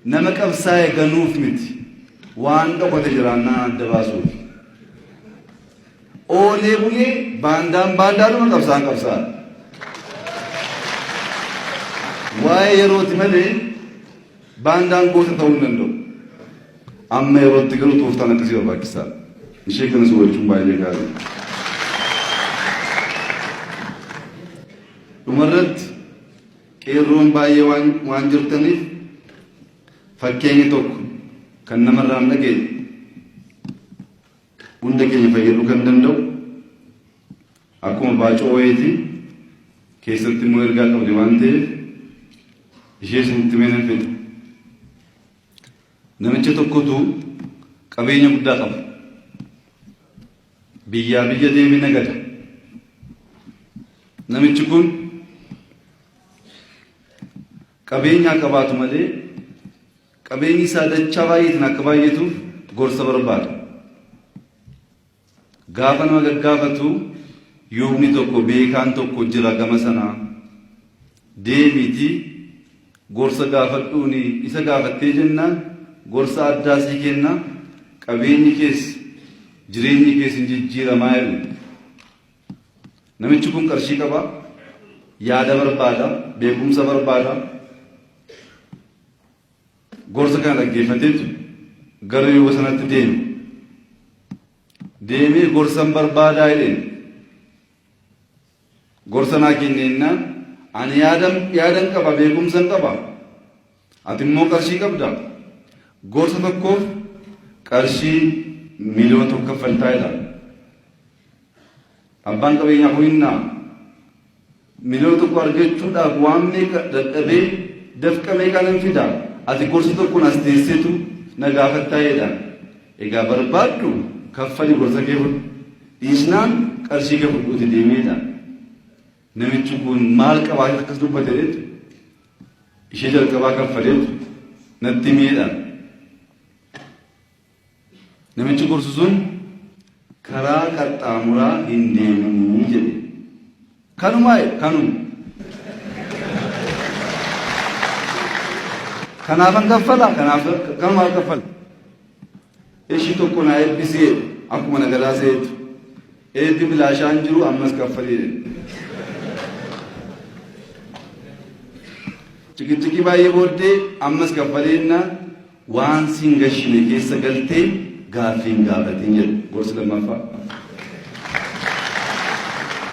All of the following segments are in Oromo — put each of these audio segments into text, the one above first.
Nama qabsaa'e ganuuf miti. Waan dhokate jiraannaa adda baasuufi. Oolee bulee baandaan baandaadhuma qabsaan qabsaa. Waa'ee yerooti malee baandaan goota ta'uu hin danda'u. Amma yerootti garuu tooftaan akkasii barbaachisaa. Ishee kanas hubachuun baay'ee gaarii. Dhumarratti Qeerroon baay'ee waan jirtaniif fakkeenyi tokko kan namarraa hin dhageenye hunda keenya fayyaduu kan danda'u akkuma baacoo wayiitii keessatti immoo ergaa qabdi waan ta'eef ishee isinitti mee nan fedha. Namicha tokkotu qabeenya guddaa qaba. Biyyaa biyya deeme nagada. Namichi kun qabeenyaa qabaatu malee qabeenyi isaa dachaa baay'eetiin akka baay'atuuf gorsa barbaada. Gaafa nama gaggaafatu yuubni tokko beekaan tokko jira gama sanaa deemiitii gorsa gaafadhuuni isa gaafattee jennaan gorsa addaa sii kenna qabeenyi kees jireenyi kees hin jijjiiramaa jedhan. Namichi kun qarshii qaba, yaada barbaada, beekumsa barbaada. Gorsa kana dhaggeeffateetu gara Yooba sanatti deeme. Deemee gorsan barbaadaa jedheen. Gorsa naa kenneennaan, Ani yaadan, yaadan qaba, beekumsan qaba. Ati immoo qarshii qabda. Gorsa tokkoof qarshii miliyoona tokko kaffaltaa jedhaan. Abbaan qabeenyaa kun innaa miliyoona tokko argachuudhaaf waan meeqa dadhabee dafqa meeqaanan fida. Ati gorsa tokkoon as teesseetu na gaafattaa jedhaan. Egaa barbaaddu kaffali borsa kee fudhu dhiisnaan qarshii kee fudhuuti deemi jedhaan. Namichi kun maal qabaatee akkas dubbate reetu? Ishee jalqabaa kaffaleetu natti himi jedhaan. Namichi gorsu sun karaa qaxxaamuraa hin deeminii jedhe. Kanumaa jedhe kanuma. Kanaafan kaffala kanaaf kanumaaf kaffala. Ishii tokko naa eebbisi jedhe akkuma na galaa seetu. Eebbi bilaashaan jiru ammas kaffalii jedhe. Cikiccikii baay'ee booddee ammas kaffalii jennaan Waan si hin gashine keessa galtee gaaffii hin gaafatin jedha gorsi lammaffaa.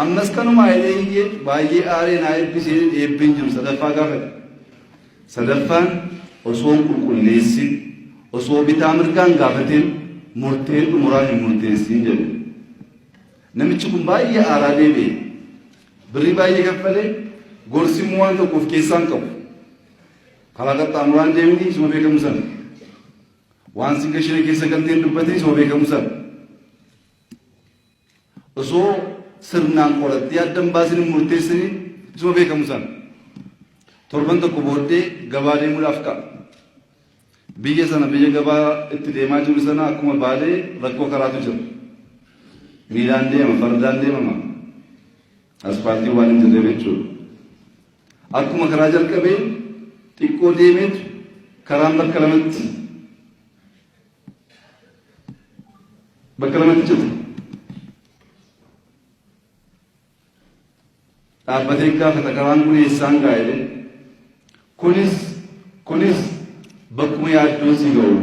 Ammas kanuma Hayilee Hiikee baay'ee aaree naa eebbi seenin eebbeen jiru sadaffaa gaafate. Sadaffaan osoo hin qulqulleessin, osoo bitaa mirgaa hin gaafatin murteen xumuraa hin murteessin jedhe. Namichi kun baay'ee aaraa deebi'e. Birrii baay'ee kaffalee gorsi immoo waan tokko of keessaa hin qabu. Karaa qaxxaamuraan deemti isuma beekamu sana. Waan sigga shiree keessa galteen dubbate isuma beekamu sana. Osoo sirnaan qorattee adda hin baasin hin murteessini isuma beekamu sana. Torban tokko booddee gabaa deemuudhaaf ka'a. Biyya sana biyya gabaa itti deemaa jiru sana akkuma baalee rakkoo karaatu jira. Miilaan deema fardaan deemama. Aspaaltiin waan hin jirreef jechuudha. Akkuma karaa jalqabeen xiqqoo deemeetu karaan bakka lamatti bakka lamatti cite. Dhaabbatee gaafata karaan kun eessaan gaa'elee Kunis Kunis bakkuma yaaddoon si ga'u.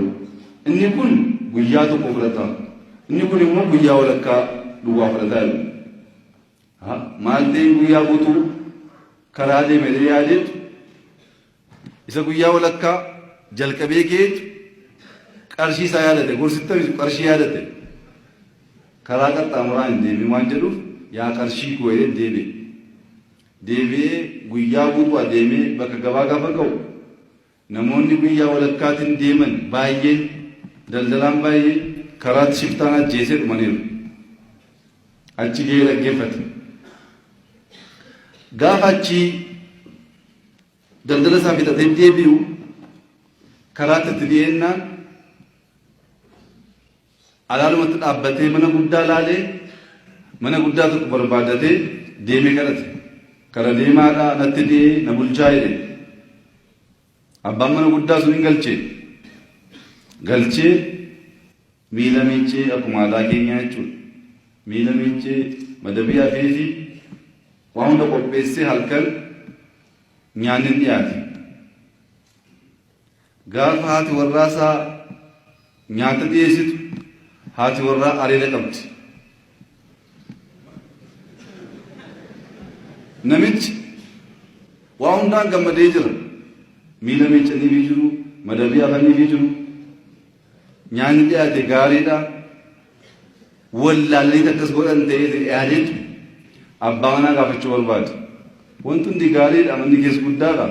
Inni kun guyyaa tokko fudhata. Inni kun immoo guyyaa walakkaa duwwaa fudhata jedhu. Ha, Maal ta'een guyyaa guutuu karaa deeme jedhee yaadeetu isa guyyaa walakkaa jalqabee keetu qarshii isaa yaadate gorsitti taphatu qarshii yaadate karaa qaxxaamuraa hin deemin waan jedhuuf yaa qarshii koo jedhee deebi'e. deebi'ee guyyaa guutuu adeemee bakka gabaa gaafa ga'u namoonni guyyaa walakkaatiin deeman baay'een, daldalaan baay'een karaatti shiftaan ajjeesee dhumaniiru. Achi ga'ee dhaggeeffate. Gaafa achi daldala isaa fixatee deebi'u karaatti itti dhiyeennaan Alaalumatti dhaabbatee mana guddaa laalee mana guddaa tokko barbaadatee deemee kadhate. Kara deemaadhaa anatti dhi'ee na bulchaa jedhe. Abbaan mana guddaa sun hin galche. Galchee miila miiccee akkuma aadaa keenyaa jechuudha. Miila miiccee madabii hafeefi waan hunda qopheessee halkan nyaanni dhiyaate. Gaafa haati warraa isaa nyaata dhiyeessitu haati warraa areeda qabdi. Namichi waa hundaan gammadee jira. Miila miiccaniifii jiru, madabii afaniifii jiru. Nyaanni dhiyaate gaariidha. Wallaalaniiti akkas godhan ta'ee hin dhiyaaniin abbaa manaa gaafachuu barbaadu. Wanti hundi gaariidha manni kees guddaadha.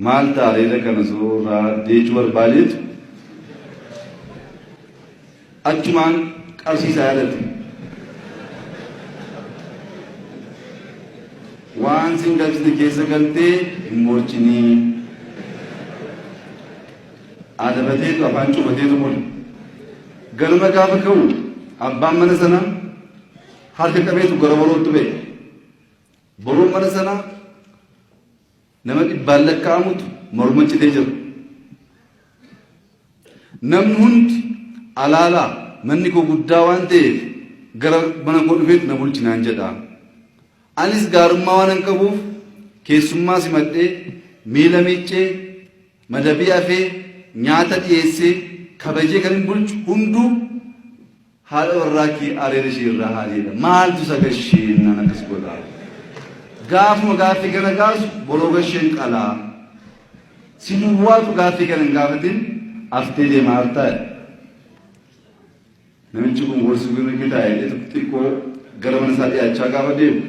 Maal ta'a reeda kana suuraa deechuu barbaadeetu Achumaan qabsiisa yaadate. Waan sin galchite keessa galtee hin moochinii. Adabateetu afaan cufateetu bule. Ganama gaafa ka'u abbaan mana sanaa harka qabeetu gara borootti ba'e. Boroon mana sanaa Nama dhibbaan lakkaa'amutu morma citee jira. Namni hundi alaalaa manni koo guddaa waan ta'eef gara mana koo dhufeet na bulchi naan jedha. Anis gaarummaa waanan qabuuf keessummaa simadhee miila miiccee madabii afee nyaata dhiyeessee kabajee kanin bulchu hunduu Haadha warraa kee ariin ishii irraa haa jedha maaltu isa gashee innaan akkas godha gaafuma gaaffii kana kaasu boroo gasheen qalaa si duwwaatu gaaffii kana hin gaafatin aftee deema hartaa namichi kun gorsi kun inni taa'e xiqqoo gara mana isaa dhiyaachaa gaafa deemu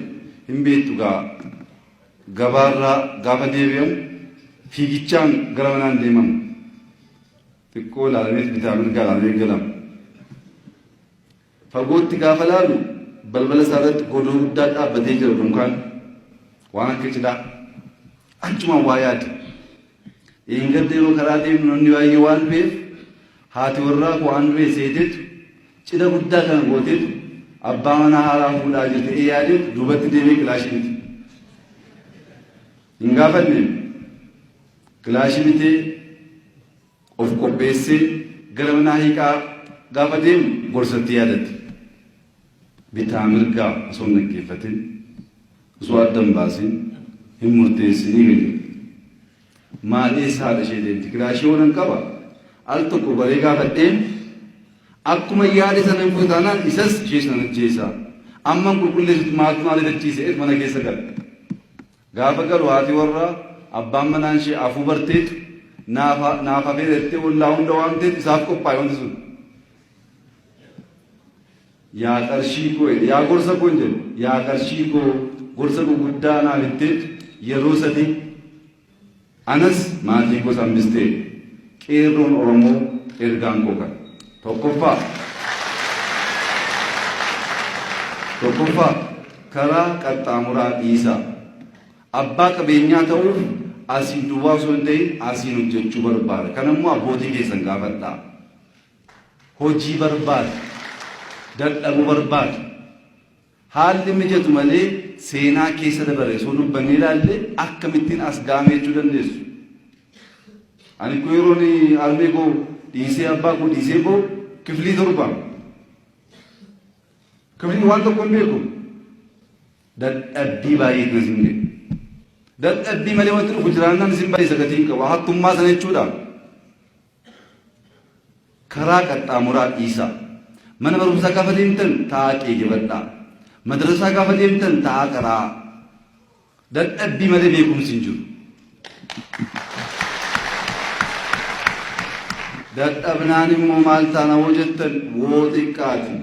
hin beektu gaa gabaarraa gaafa deebi'amu fiigichaan gara manaan deemamu xiqqoo ilaalameet bitaa mirga ilaalamee galama. Fagootti gaafa ilaalu balbala isaa irratti godoo guddaa dhaabbatee jira dunkaan waan akka cidhaa achumaan waa yaade. Dheengadda yeroo karaa deemnu namni baay'ee waan dhufeef haati warraa koo waan dhufee seeteetu cidha guddaa kana gooteetu abbaa manaa haaraa fuudhaa jirte ee yaadeetu duubatti deemee kilaashii miti. hin gaafanne kilaashii bitee of qopheessee gara manaa hiikaa gaafa deemu gorsatti yaadatti bitaa mirgaa osoo hin dhaggeeffatin osoo adda hin baasin hin murteessinii galee maal eessa haadha ishee deemti kilaashii waan qaba al tokko baree gaafadheen akkuma yaade sana hin fudhataanaan isas ishee sana ajjeesaa amman qulqulleessutti maaltu maal edachiise mana keessa gala. Gaafa galu haati warraa abbaan manaa ishee afuu barteet naaf hafeera jettee ollaa hunda waamteet isaaf qophaa'e wanti sun. Yaa qarshii koo jedhe yaa gorsa koo hin jedhu yaa qarshii koo gorsa guguddaa naaf hitteet yeroo sadii. Anas maatii koos hambistee. Qeerroon Oromoo ergaan koo kana. Tokkoffaa Tokkoffaa karaa qaxxaamuraa dhiisaa. Abbaa qabeenyaa ta'uuf asiin duwwaa osoo hin ta'in asiin hojjechuu barbaada. Kana immoo abbootii keessan gaafadhaa. Hojii barbaada. Dadhabuu barbaada. Haalli mijatu malee seenaa keessa dabare osoo dubbannee ilaalle akkamittiin as ga'ame jechuu dandeessu. Ani koo yeroon harmee koo dhiisee abbaa koo dhiisee koo kiflii torba. Kiflii waan tokko hin beeku. Dadhabbii baay'eetu na simne. Dadhabbii malee wanti dhufu jiraannaan isin baay'isa gatii hin qabu. Hattummaa sana jechuudha. Karaa qaxxaamuraa dhiisaa. Mana barumsaa gaafa deemtan taa'aa qeegebadhaa. Madrasaa gaafa deemtan taa'aa qaraa'aa. Dadhabbii malee beekumsi hin jiru. Dadhabnaan immoo maal taana hoo jettan woo xiqqaati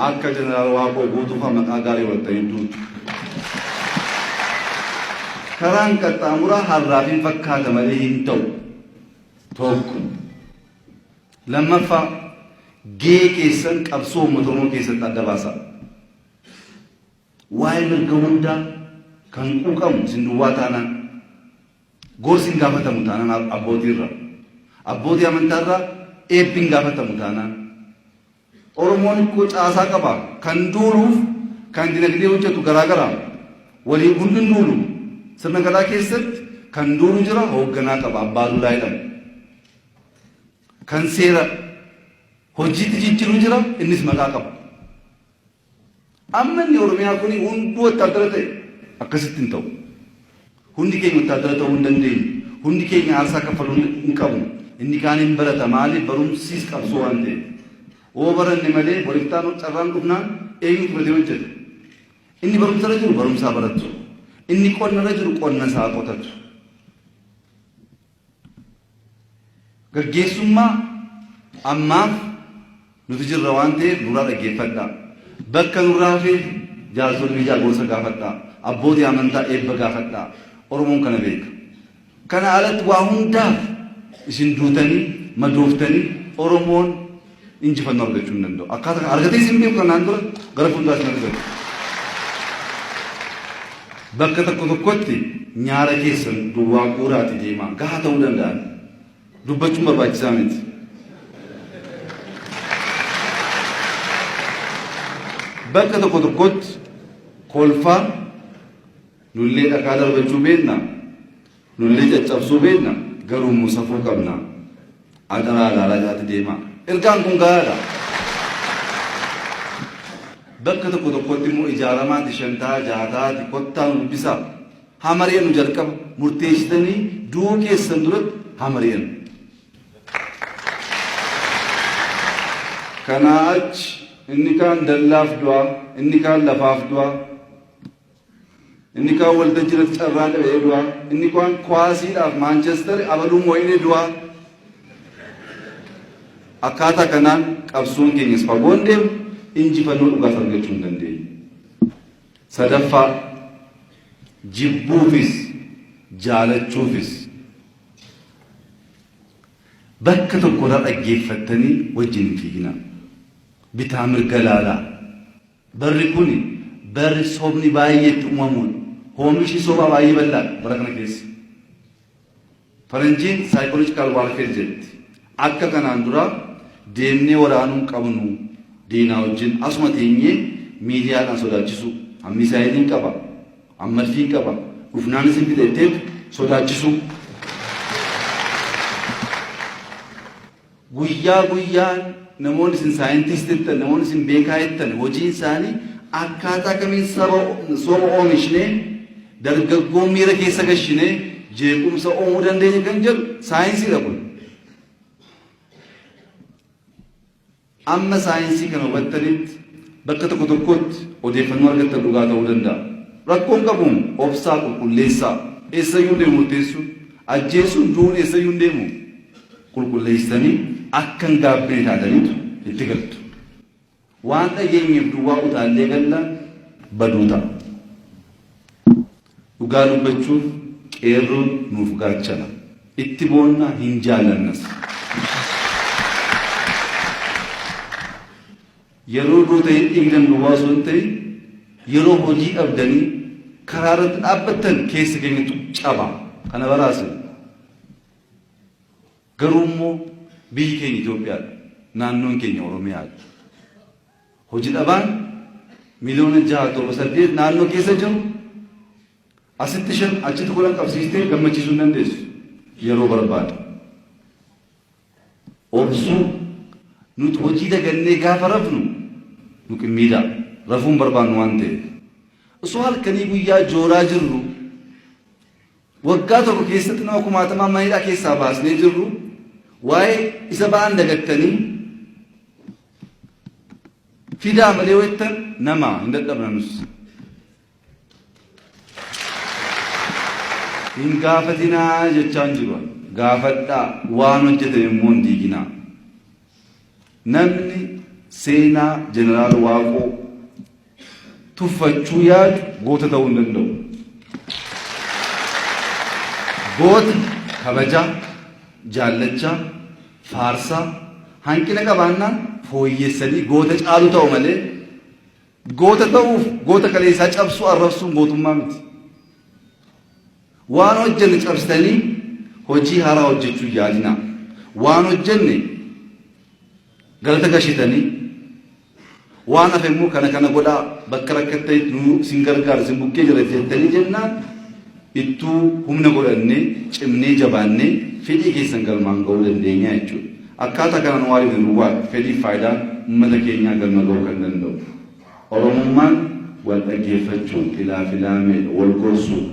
akka jeneraal Waaqoo guutuufaa maqaa gaarii waltanii duutu. Karaan qaxxaamuraa harraaf hin fakkaata malee hin ta'u. tokko. Lammaffaa gahee keessan qabsoo uummata Oromoo keessatti adda baasaa. Waa'ee mirga hundaa kan quuqamu isin duwwaa taanaan gorsi hin gaafatamu taanaan abbootii irraa abbootii amantaa irraa eebbi hin gaafatamu taanaan Oromoon hikkoo caasaa qaba. Kan duuluuf kan dinagdee hojjetu garaa gara. Waliin kun hin duulu. Sirna Gadaa keessatti kan duulu jira hoogganaa qaba abbaa duulaa jedhama. Kan seera hojiitti jijjiru jira innis maqaa qaba. Amma inni Oromiyaa kuni hunduu wattaaddara ta'e? Akkasitti hin ta'u. Hundi keenya wattaaddara ta'uu hin dandeenyu. Hundi keenya aarsaa kaffaluu hin qabnu. Inni kaan hin barata. Maaliif? Barumsis qabsoo waan ta'eef. Yoo baranne malee bor iftaan carraan dhufnaan eenyutu batee hojjeta? Inni barumsa irra jiru barumsa haa baratu. Inni qonna irra jiru qonna isaa haa qotatu. Gaggeessummaa ammaaf nuti jirra waan ta'eef nurraa dhaggeeffadhaa. Bakka nurraa hafeef jaarsolii biyyaa gorsa gaafadhaa. Abbootii amantaa eebba gaafadhaa. Oromoon kana beeka. Kana alatti waa hundaaf isin duutanii madooftanii Oromoon injifannoo argachuu hin danda'u. Akkaataa kana argatee isin beeku kanaan dura gara fuulduraatti hin argamu. Bakka tokko tokkotti nyaara keessan duwwaa guuraati deemaa gahaa ta'uu danda'a. Dubbachuun barbaachisaa miti. Bakka tokko tokkotti kolfaa nullee dhakaa darbachuu beekna. Nullee caccabsuu beekna garuummoo safuu qabna. Adaraa ilaalaa jalatti deemaa. Ergaan kun gahaadha. Bakka tokko tokkotti immoo ijaaramaati shan ta'a ja'a ta'aati kottaa nu dubbisaa. Haa mari'annu jalqaba murteessitanii du'uu keessan duratti haa mari'annu. Kanaa achi inni kaan dallaaf du'a inni kaan lafaaf du'a Inni kaan waltajjii irratti carraa qabee du'a. Inni kaan kuwaasiidhaaf Maanchestar abaluu moo'inee du'a. Akkaataa kanaan qabsoon keenyas fagoon deemu injifannoo dhugaas argachuu hin dandeenye. Sadaffaa jibbuufis jaalachuufis bakka tokko irraa dhaggeeffattanii wajjin hin fiiginaa. Bitaa mirga laalaa. Barri kun barri sobni baay'ee itti uumamuun hoomishni sobaa baay'ee bal'aadha bara kana keessa. Faranjiin psychological warfare jedhti. Akka kanaan dura deemnee waraanuu hin qabnu diinaa wajjin asuma teenyee miidiyaadhaan sodaachisuu. An misaayiliin qaba, an madfiin qaba, dhufnaan isin fixa jetteetu sodaachisuu. Guyyaa guyyaan namoonni isin scientist jettan, namoonni isin beekaa jettan hojiin isaanii akkaataa kamiin saba soba oomishnee dargaggoo miira keessa gashinee jeequmsa uumuu dandeenya kan jedhu saayinsiidha kun. Amma saayinsii kana hubattanitti bakka tokko tokkotti odeeffannoo argattan dhugaa ta'uu danda'a. Rakkoo hin qabu obsaa qulqulleessaa. Eessayyuu hin deemu murteessuun, ajjeesuun, du'uun eessayyuu hin deemu. Qulqulleessitanii akka hin gaabbine taataniitu itti galtu. Waan dhageenyeef duwwaa utaallee galla baduu ta'a. Dhugaa dubbachuuf Qeerroon nuuf gaachana. Itti boonna, hin jaallannas. Yeroo gootanii dhiigdan duwwaa osoo hin ta'in yeroo hojii dhabdanii karaa irratti dhaabbattan keessa keenyatu caba. Kana baraa isin. Garuu immoo biyyi keenya Itoophiyaadha. Naannoon keenya Oromiyaadha. Hoji dhabaan miliyoona 6.8 naannoo keessa jiru asitti 5 achitti 10 qabsiistee gammachiisuu hin dandeessu. Yeroo barbaada. Obsuu nuti hojii dagannee gaafa rafnu nu qimmiidha. Rafuu hin barbaannu waan ta'eef. Osoo halkanii guyyaa jooraa jirru waggaa tokko keessatti nama kumaatamaa mana hidhaa keessaa baasnee jirru waa'ee isa ba'an dagattanii fidaa malee yoo jettan nama hin dadhabna nus. Hin gaafatinaa jechaan jiru gaafadhaa waan hojjetan immoo hin diiginaa. Namni seenaa jeneraal Waaqoo tuffachuu yaadu goota ta'uu hin danda'u. Gooti kabajaa, jaallachaa, faarsaa, hanqina qabaannaan fooyyessanii goota caalu ta'u malee goota ta'uuf goota kaleessaa cabsuu arrabsuun gootummaa miti. Waan hojjenne cabsitanii hojii haaraa hojjechuu yaadinaa. Waan hojjenne galata gashitanii Waan hafe immoo kana kana godhaa bakka rakkattanitti nu isin gargaara isin bukkee jira jettanii jennaan ittuu humna godhannee cimnee jabaannee fedhii keessan galmaan ga'uu dandeenya jechuudha. Akkaataa kanaan waa hojjetu duwwaadha fedhiif faayidaan uummata keenyaa galma ga'uu kan danda'u. Oromummaan wal dhaggeeffachuun ilaa filaameedha, wal gorsuudha.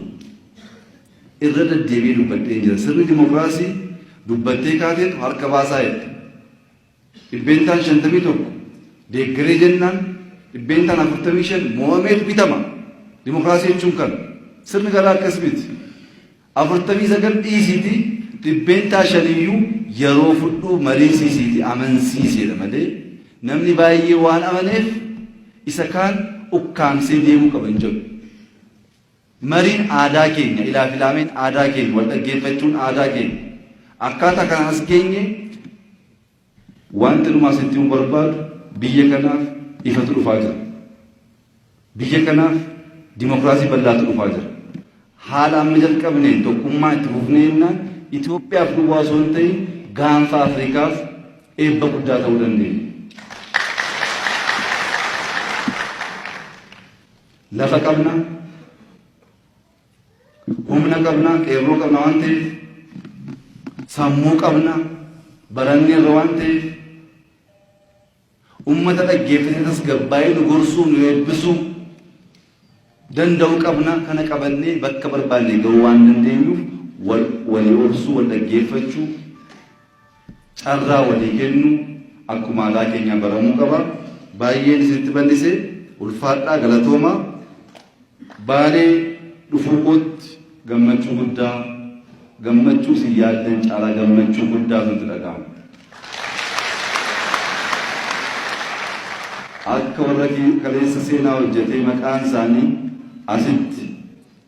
Irra deddeebi'ee dubbadheen jira sirni dimokiraasii dubbattee kaateetu harka baasaa jette. 51% deeggaree jennaan 45% mo'ameet bitama. Dimokiraasii jechuun kana. Sirni gadaa akkas miti. 49 dhiisiiti 5% iyyuu yeroo fudhuu mariisiisiiti amansiiseedha malee namni baay'ee waan amaneef isa kaan ukkaamsee deemuu qaba hin jedhu. Mariin aadaa keenya, ilaafilaameen aadaa keenya, waldhaggeeffachuun aadaa keenya. Akkaataa kanaan as geenye. Wanti dhumaa isinitti himuu barbaadu biyya kanaaf ifatu dhufaa jira. Biyya kanaaf dimokiraasii bal'aatu dhufaa jira. Haala amma jalqabneen tokkummaa itti fufnee jennaan Itoophiyaaf duwwaa osoo hin ta'in gaanfa Afrikaaf eebba guddaa ta'uu dandeenya. Lafa qabna, humna qabna, qeerroo qabna waan ta'eef, sammuu qabna, barannee irra waan ta'eef, ummata dhaggeeffatee tasgabbaa'ee nu gorsuu nu eebbisuu danda'u qabna kana qabannee bakka barbaanne ga'uu waan dandeenyuuf wal walii obsuu wal dhaggeeffachuu Carraa walii kennu akkuma aadaa keenyaa baramuu qaba. Baay'een isinitti bal'ise ulfaadhaa galatoomaa. Baalee dhufuu kootti gammachuu guddaa gammachuu isin yaaddan caalaa gammachuu guddaa nutti dhaga'ama. Akka warra kaleessa seenaa hojjetee maqaan isaanii asitti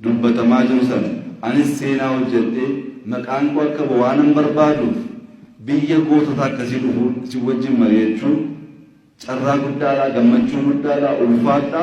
dubbatamaa jiru sana anis seenaa hojjedhee maqaan koo akka ba'u waanan barbaaduuf biyya gootota akkasii dhufuun isin wajjin mari'achuun carraa guddaadha, gammachuu guddaadha, ulfaadha.